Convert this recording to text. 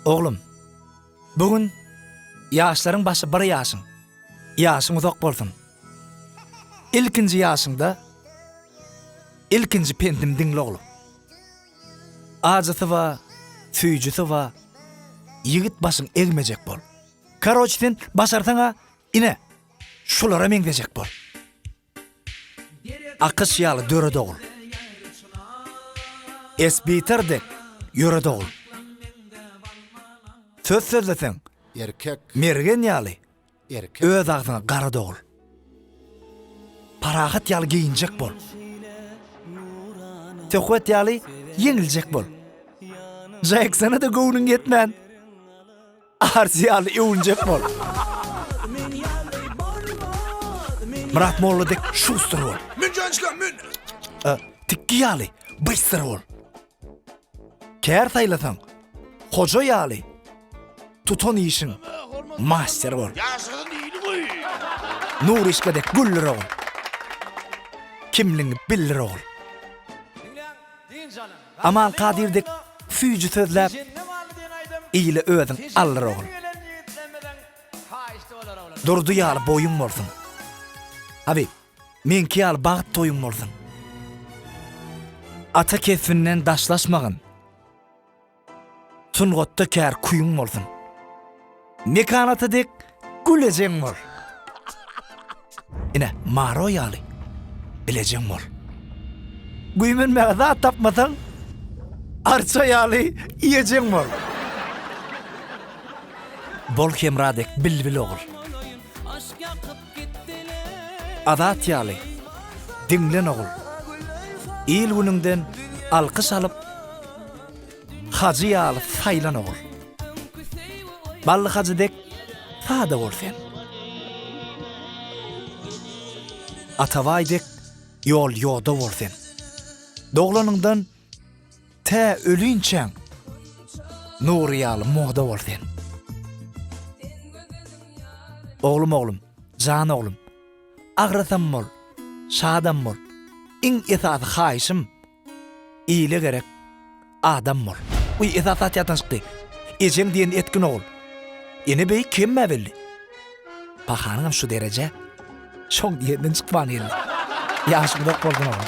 Oglum, bu gün ýaşlaryň başy bir ýaşyň. Ýaşyň uzak bolsun. Ilkinji ýaşyňda ilkinji pendimi diňle oglum. Ajysy bar, süýjüsi bar. Ýigit başyň egmejek bol. Karoç sen başarsaň-a, ine, şulara meňzejek bol. Akyş ýaly döre dogul. Esbitar dek ýöre dogul. Söz sözleseň, mergen ýaly öz agzyňa gara dogul. Parahat ýaly geýinjek bol. Söhbet ýaly ýeňiljek bol. Jaýyksana-da göwnüň ýetmän. Arsi ýaly öwünjek bol. Myrat molla dek şuster bol. Mün jançla mün. E, tikki ýaly byster bol. Kär saýlasaň hoja ýaly tutan işiň master bol. Ýaşasyn ýyly goý. Nur işke dek güller ogul. Kimligiňi bildir ogul. Diňläň, diýin janym. Aman Kadyr dek süýji sözläp ile özüň aldyr ogul. Durdy ýaly boýuň bolsun. Habyp, meňki ýaly bagt toýuň bolsun. Ata kesbinden daşlaşmagyn. Sungatda kär küýüň bolsun. Mekan ata dek gülejeň bol. Ine, Maro ýaly bilejeň bol. Güýmenmäge zat tapmasaň, arça ýaly iýejeň bol. Bol Hemra dek bilbil ogul. Azat ýaly diňlen ogul. Il-günüňden alkyş alyp, Hajy ýaly saýlan ogul. Bally Hajy dek sada bol sen. Atabaý dek ýol ýoda bol sen. Doglanyňdan tä ölünçäň Nury ýaly moda bol sen. Oglum oglum, jan oglum. Agrasam bol, şadam bol. Iň esasy haýyşym Ile gerek adam bol. Uý esas zat ýatdan çykdy. Ejeň diýen etgin ogul. Ene beýik kemmä belli. Pahanyňam şu dereje şoň diýenden çykman geldi. Ýaşy uzak bolsun ogul.